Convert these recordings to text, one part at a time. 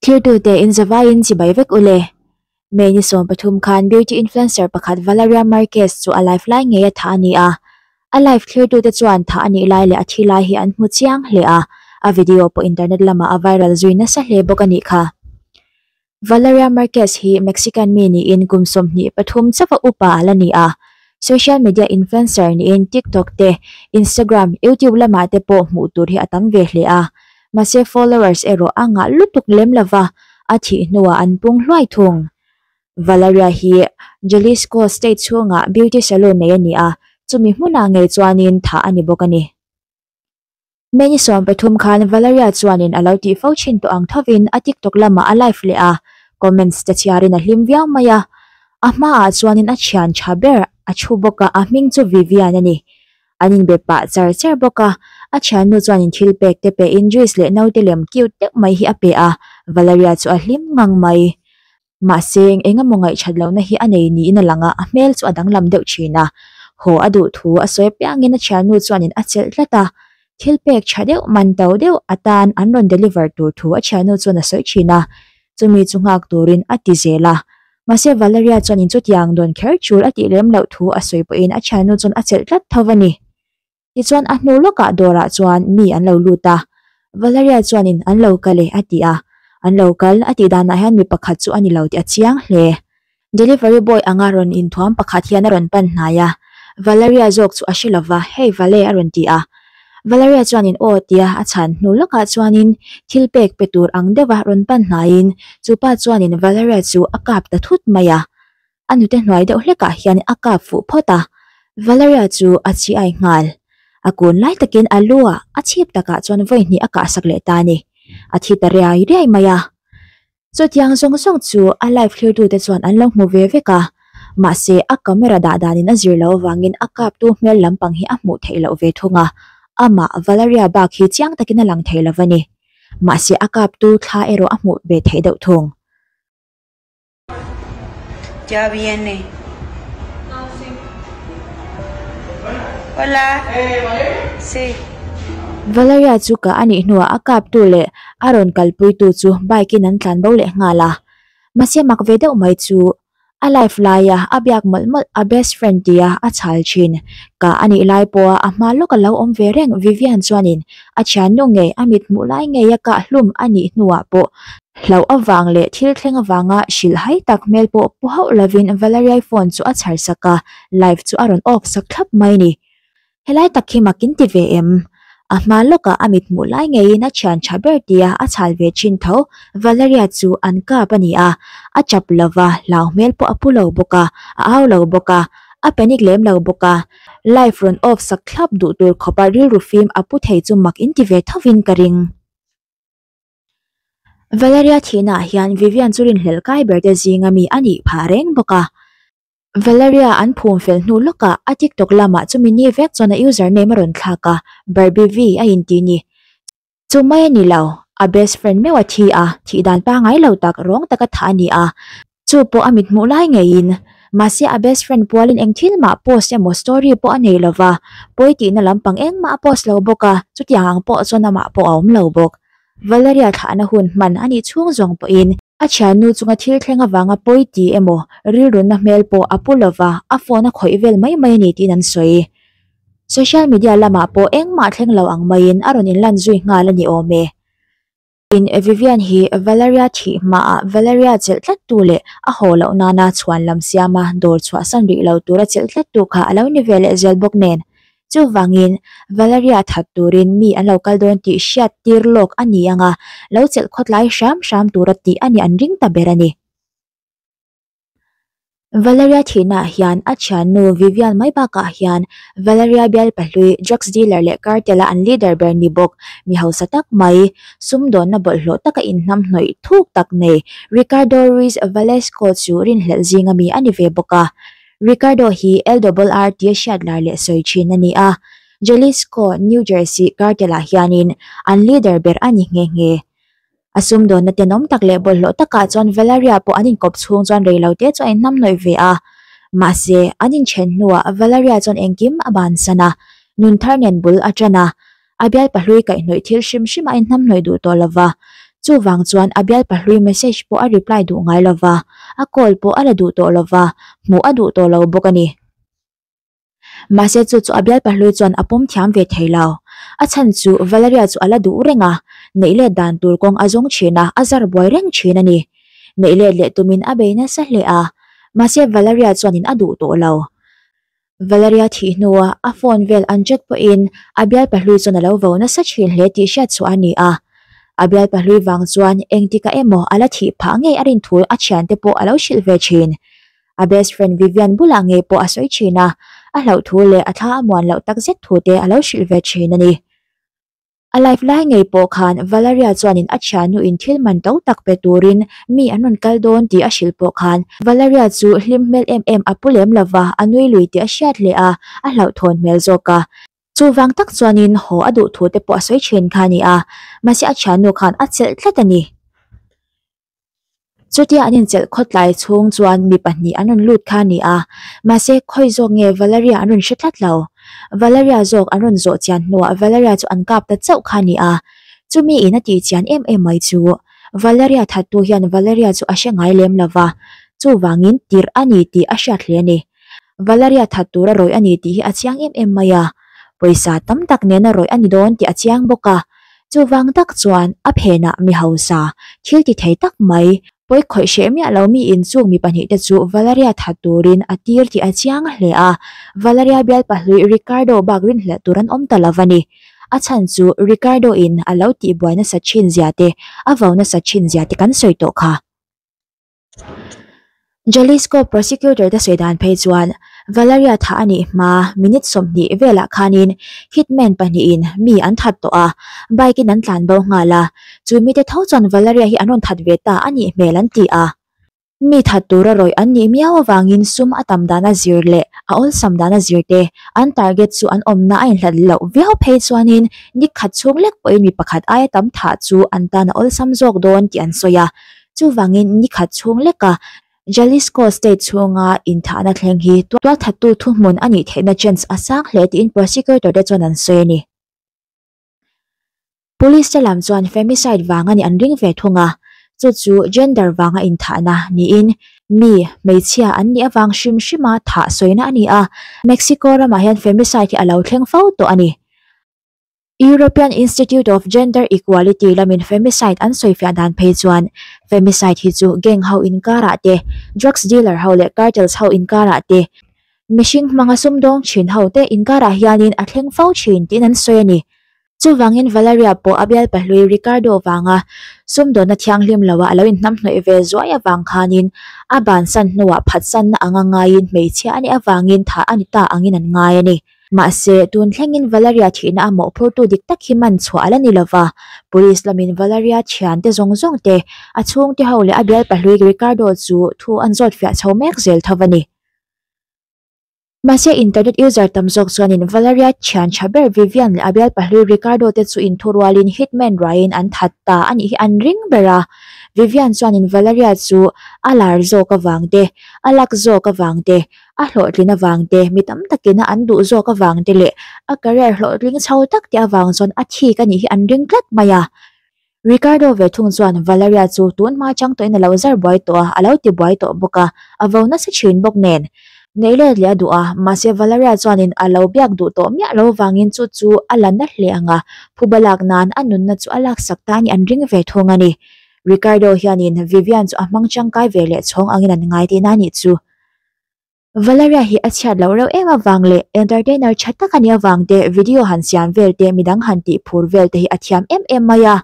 Thirtute in zavai in chibai vek u le. May ni sawm pathum khan beauty influencer pakhat Valeria Marquez chu a live lai ngei a thah a ni a. A live thirtute chuan thah a nih lai leh a thi lai hi an hmu chiang hle a, a video pawh internet lamah a viral zui nasa hle bawk a nih kha. Valeria Marquez hi Mexican mi niin kum sawmhnih pathum chauha upa a la ni a. Social media influencer niin TikTok te, Instagram, YouTube lamah te pawh hmuh tur hi a tam ve hle a. Mahse followers erawh a ngah lutuk lem lo va, a thih hnuah an pung hluai thung. Valeria hi Jalisco state chhunga beauty salon nei a ni a, chumi hmunah ngei chuanin thah a ni bawk a ni. Many sawm pathum khan Valeria chuanin a lo tih fo thin tawh ang thovin a TikTok lama a live leh a, comments te chhiarin a hlim viau mai a. A hmaah chuanin a thian tha ber a thu bawk a, a hming chu Vivian a ni. An inbe pah char char bawk a, a thiannu chuanin thil pek te pehin juice leh naute lem cute deuh mai hi a pe a, Valeria chu a hlim ngang mai. Mahse, eng emaw ngaihthat lohna hi a nei niin a lang a, a hmel chu a danglam deuh thin a. Haw, a duh thu a sawi piangin a thiannu chuanin a chelh tlat a. Thil pek tha deuh, man to deuh atan an rawn deliver tur thu a thiannu chuan a sawi thin a, chumi chu nghak turin a ti zel a. Mahse, Valeria chuanin chutiang dawn kher chul a tih lem loh thu a sawi pawhin a thiannu chuan a chelh tlat tho a ni. Tichuan a hnu lawkah dawrah chuan mi an lo lut a, Valeria chuanin, An lo kal e, a ti a. An lo kal, a tih danah hian mi pakhat chu a ni lo tih a chiang hle. Delivery boy anga rawn inthuam pakhat hian a rawn pan hnai a, Valeria zawk chu a hre lova, Hey Vale, a rawn ti a. Valeria chuanin, Aw, tia, a chhan. Hnu lawkah chuanin thil pek pe tur ang deuha rawn pan hnaiin, chupa chuanin Valeria chu a kap ta thut mai a. a nute hnuai deuh hlekah hian a kap fuh phawt a, Valeria chu a chhi ai nghal. A kun lai takin a lu ah a chhip takah chuan vawihnih a kahsak leh ta a ni. A thi ta riai riai mai a. Chutiang zawng zawng chu a live thlirtute chuan an lo hmu ve vek a, mahse a camera dah danin a zir loh avangin a kaptu hmel lampang hi a hmuh theih loh ve thung a, amah Valeria bak hi chiang takin a lang thei lo a ni. Mahse a kaptu thla erawh a hmuh ve theih deuh thung. Chawiani. Hola. Si. Valeria chu ka anih hnuah a kaptu leh a rawn kalpuitu chu bike in an tlan bo leh nghal a. Mahse mak ve deuh mai chu a life laia a biak mawlh mawlh a best friend tia a chhal thin. Ka anih lai pawha a hma lawk alo awm ve reng Vivian chuanin a thiannung ngei a mithmuh lai ngeia ka hlum anih hnuah pawh Hlauh avang leh thil thleng avanga hrilh hai tak hmel pawh pu hauh lovin Valeria-i phone chu a chhar sak a, live chu a rawn off sak thlap mai ni. Helai tak hi mak in ti ve em? A hma lawkah a mithmuh lai ngeiin a thian tha ber tia a chhal ve thin tho. Valeria chu an kap a ni a, a chap lo va, hlau hmel pawh a pu lo bawk a, a au lo bawk a, a panic lem lo bawk a, live rawn off sak thlap duh tur khawpa rilru fim a pu thei chu mak in ti ve tho in ka ring. Valeria thihnaah hian Vivian chu rinhlelh kai ber te zing a mi a nih phah reng bawk a. Valeria an phum fel hnu lawkah a TikTok lamah chumi ni vek chuan a username a rawn thlak a, Barbivi a inti ni. Chu mai a ni lo, a best friend meuh a thi a, thih dan pangai lo tak, rawng taka thah a ni a. Chu pawh a mit hmuh lai ngeiin. Mahse a best friend Pualin engthil mah post emaw story pawh a nei lo va, pawi tihna lampang engmah a post lo bawk a, chutiang ang pawh chuan amah pawh a awm lo bawk. Valeria thlahna hun hman a nih chhung zawng pawhin, a thiannu chunga thil thleng avanga pawi ti emaw rilrunna hmel pawh a pu lo va, a phone a khawih vel mai mai a ni tiin an sawi. Social media lamah pawh engmah thleng lo ang maiin a rawn inlan zui nghal a ni awm e. In a Vivian hi Valeria thih hma ah Valeria chelh tlat tu leh a haw loh nan a chhuan lam siam a dawr chhuah san rih lo tur a chelh tlat tu kha a lo ni ve leh zel bawk nen. Chuvang in Valeria that tur in mi an lo kal dawn tih hriat tir lawk a ni ang a, lo chelh khawt lai hram hram tur a tih a ni an ring ta ber a ni. Valeria thihnaah hian a thiannu Vivian mai bakah hian Valeria bial pahlui, drugs dealer leh cartel a an leader ber ni bawk. Mi hausa tak mai, sumdawnna bawlhhlawh taka inhnam hnawih thuk tak nei Ricardo Ruiz Valesco chu rinhlelh zing a mi a ni ve bawk a. Ricardo hi El Dobol-R tia hriat lar leh sawi thin a ni a, Jalisco, New Jersey, cartel-ah hianin an leader ber a ni nghe nghe. A sumdawnna tenawm tak leh bawlhhlawh takah chuan Valeria pawh an inkawp chhung chuan reilo te chu a inhnam nawih ve a. Mahse, an inthen hnuah Valeria chuan engkim a bansan a, nun thar nen bul a ṭan a, a bialpa hlui kaihhnawih thil hrim hrima inhnam hnawih duh tawh lova. Chuvang chuan a bialpa hlui message pawh a reply duh ngai lova, a call pawh a la duh tawh lova, hmuh a duh tawh lo bawk a ni. Mahse chu chu a bialpa hlui chuan a pawm thiam ve thei lo. A chhan chu Valeria chu a la duh reng a, neih let dan tur kawng a zawng thin a, a zar buai reng thin a ni. Neih let leh tumin a bei nasa hle a. Mahse Valeria chuanin a duh tawh lo. Valeria thih hnuah a phone vel an chat pawhin a bialpa hlui chuan a lo vo nasa thin hle tih hriat suah a ni a. A bialpa hlui vang chuan engtikah emaw a la thih phah ngei a rinthui a thiante pawh a lo hrilh ve thin. a best friend Vivian bulah ngei pawh a sawi thin a, a hlauh thu leh a thla a muan loh tak zet thu te a lo hrilh ve thin a ni. A life lai ngei pawh khan Valeria chuanin a thiannu in thil man to tak pe turin mi an rawn kal dawn tih a hrilh pawh khan Valeria chu hlim hmel em em a pu lem lo va, a nui lui tih a hriat hle a, a hlauh thawn hmel zawk a. Chuvang tak chuanin haw a duh thu te pawh a sawi thin kha a ni a, mahse a thiannu khan a chelh tlat a ni. Chutia an inchelh khawt lai chhung chuan mi pahnih an rawn lut kha a ni a, mahse khawi zawk nge Valeria an rawn hre tlat lo. Valeria zawk an rawn zawh chian hnuah Valeria chu an kap ta chauh kha a ni a. Chumi in a tih chian em em mai chu Valeria thattu hian Valeria chu a hre ngai lem lova, chuvangin tirh a ni tih a hriat hle a ni. Valeria that tur a rawih a ni tih hi a chiang em em mai a, pawisa tam tak nen a rawih a ni dawn tih a chiang bawk a, chuvang tak chuan a phenah mi hausa thil ti thei tak mai, pawi khawih hreh miah lo mi inchung mi pahnih te chu Valeria that turin a tir tih a chiang a hle a, Valeria bialpa hlui Ricardo bak rinhlelh tur an awm ta lo a ni, a chhan chu Ricardo in a lo tihbuai nasa thin zia te, a vau nasa thin zia te kan sawi tawh kha. Jalisco prosecutor te sawi dan phei chuan Valeria thah a nih hma minute sawmhnih velah khanin hitman pahnihin mi an that tawh a, bike in an tlan bo nghal a, chu mite tho chuan Valeria hi an rawn that ve ta a nih hmel an ti a. Mi that tura rawih an nih miau avangin sum a tam dana zir leh a awlsam dana zir te an target chu an awmna a inhlat loh viau phei chuanin dik khat chhung lek pawhin mi pakhat aia tam thah chu an tan a awlsam zawk dawn tih an sawi a, Chuvangin nikhat chhung leka Jalisco State chhunga inthahna thleng hi tualthattu thuhmun a nih theihna chance a sang hle tiin prosecutor te chuan an sawi a ni. Police te lam chuan femicide vang a nih an ring ve thung a, chu chu gender vanga inthahna niin mi, hmeichhia an nih avang hrim hrima thah sawina a ni a. Mexico ramah hian femicide hi a lo thleng fo tawh a ni. European Institute of Gender Equality lamin femicide an sawifiah dan phei chuan femicide hi chu gang ho inkarah te, drugs dealer ho leh cartels ho inkarah te, mihring hmanga sumdawng thin ho te inkarah hianin a thleng fo thin tiin an sawi a ni. Chuvangin Valeria pawh a bial pahlui Ricardo vanga sumdawna thianghlim loa a lo inhnamhnawih ve zuai avang khanin a bansan hnuah phatsanna anga ngaiin hmeichhia a nih avangin tha a ni ta angin an ngai a ni. Mahse, tun thlengin Valeria thihna a mawh phurtu dik tak hi man chhuah ala ni lova, police lamin Valeria thiante zawng zawng te, a chhungte ho leh a bialpa hlui Ricardo chu thu an zawt fiah chho mek zel tho a ni. Mahse, internet user tam zawk chuanin Valeria thian tha ber Vivian leh a bialpa hlui Ricardo te chu inthu rualin hitman ruaiin an that ta a nih hi an ring ber a. Vivian chuanin Valeria chu a lar zawk avang te, a lak zawk avang te, a hlawhtlin avang te mi tam takin an duh zawk avang te leh a career hlawhtling chho tak te avang chuan a thik a nih hi an ring tlat mai a. Ricardo ve thung chuan Valeria chu tun hma chang tawhin a lo zar buai tawh a, a lo ti buai tawh bawk a, a vo nasa thin bawk nen. Neih let leh a duh a, mahse Valeria chuanin a lo biak duh tawh miah lo avangin chu chu a la nat hle ang a, phu ba lak nan a nunna chu a lak sak ta a nih an ring ve thung a ni. Ricardo hianin Vivian chu a hmang changkai ve leh chhawng angin an ngai tihna a nih chu Valeria hi a chhiat loh reuh em avang leh entertainer tha tak a ni avang te, video han siam vel te, midang han tih phur vel te hi a thiam em em mai a.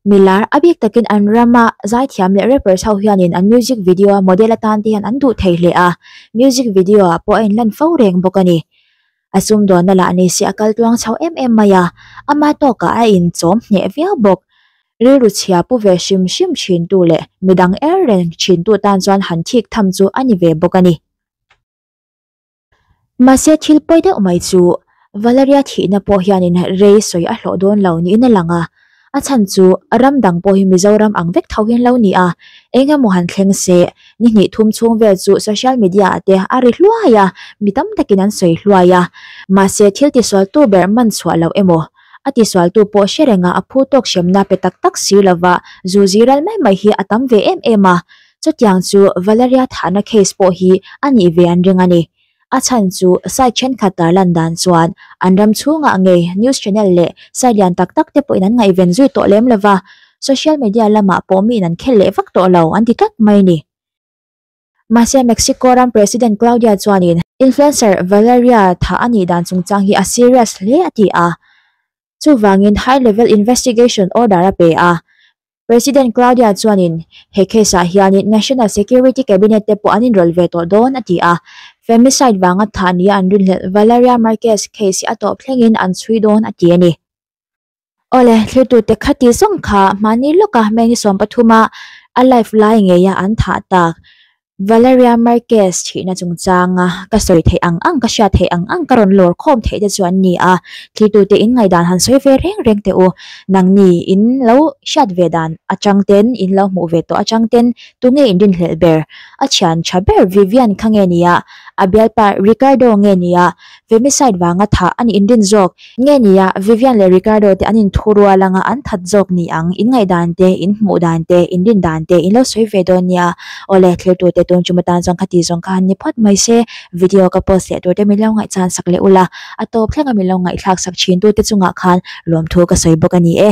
Mi lar a bik takin an rama zaithiam leh rappers ho hianin an music video a model atan te hian an duh thei hle a, music video ah pawh a inlan fo reng bawk a ni. a sumdawnna lah ni se a kal tluang chho em em mai a, ama tawkah a inchawm hneh viau bawk. Rilru chhia pu ve hrim hrim thintu leh midang er reng thintu tan chuan han thik tham chu a ni ve bawk a ni. Mahse, thil pawi deuh mai chu Valeria thihna pawh hianin rei sawi a hlawh dawn lo niin a lang a. A chhan chu a ram dang pawh hi Mizoram ang vek tho hian lo ni a, eng emaw han thleng se ni hnih thum chhung vel chu social media ah te a ri hluai a, mi tam takin an sawi hluai a, mahse thil tisualtu ber man chhuah loh emaw a tisualtu pawh hre renga a phu tawk hriamna pe tak tak sir lova zu ziral mai mai hi a tam ve em em a, chutiang chu Valeria thahna case pawh hi a nih ve an reng a ni. a chhan chu site thenkhat tar lan dan chuan an ram chhunga ngei news channel leh site lian tak tak te pawhin an ngaihven zui tawh lem lova social media lamah pawh miin an khel leh vak tawh lo an ti tlat mai ni. Mahse Mexico ram President Claudia chuanin influencer Valeria thah a nih dan chungchang hi a serious hle a ti a, chuvangin high level investigation order a pe a, President Claudia chuanin, He case-ah hianin National Security Cabinet te pawh an inrawlh ve tawh dawn, a ti a. Femicide vanga thah nia an rinhlelh, Valeria Marquez case hi a tawp thlengin an chhui dawn, a ti a ni. Awle, thirtute kha tih zawng kha mahni lawka Meng-i-sawm pathuma a live lai ngeia an thah tak. Valeria Marquez thihna chungchanga ka sawi theih ang ang, ka hriat theih ang ang, ka rawn lawr khawm theih te chuan ni a, thlihtute in ngaihdan han sawi ve reng reng teh u, nang ni in lo hriat ve dan atang ten, in lo hmuh ve tawh atang ten tunge in rinhlelh ber? A thian tha ber Vivian kha nge nia? A bialpa Ricardo nge nia? femicide vanga thah a nih in din zawk. Nge nia, Vivian leh Ricardo te an in thu rual anga an that zawk ni ang, in ngaih dan te, in hmuh dan te, in din dan te, in lo sawi ve dawn nia. Awle, thlir tur te tum chuma tan zawng kha ti zawng kha an ni phawt mai se, video ka post leh tur te min lo ngaihchan sak leh ula, a tawp thlenga min lo ngaihthlak sak thin tu te chungah khan lawmthu ka sawi bawk a ni e.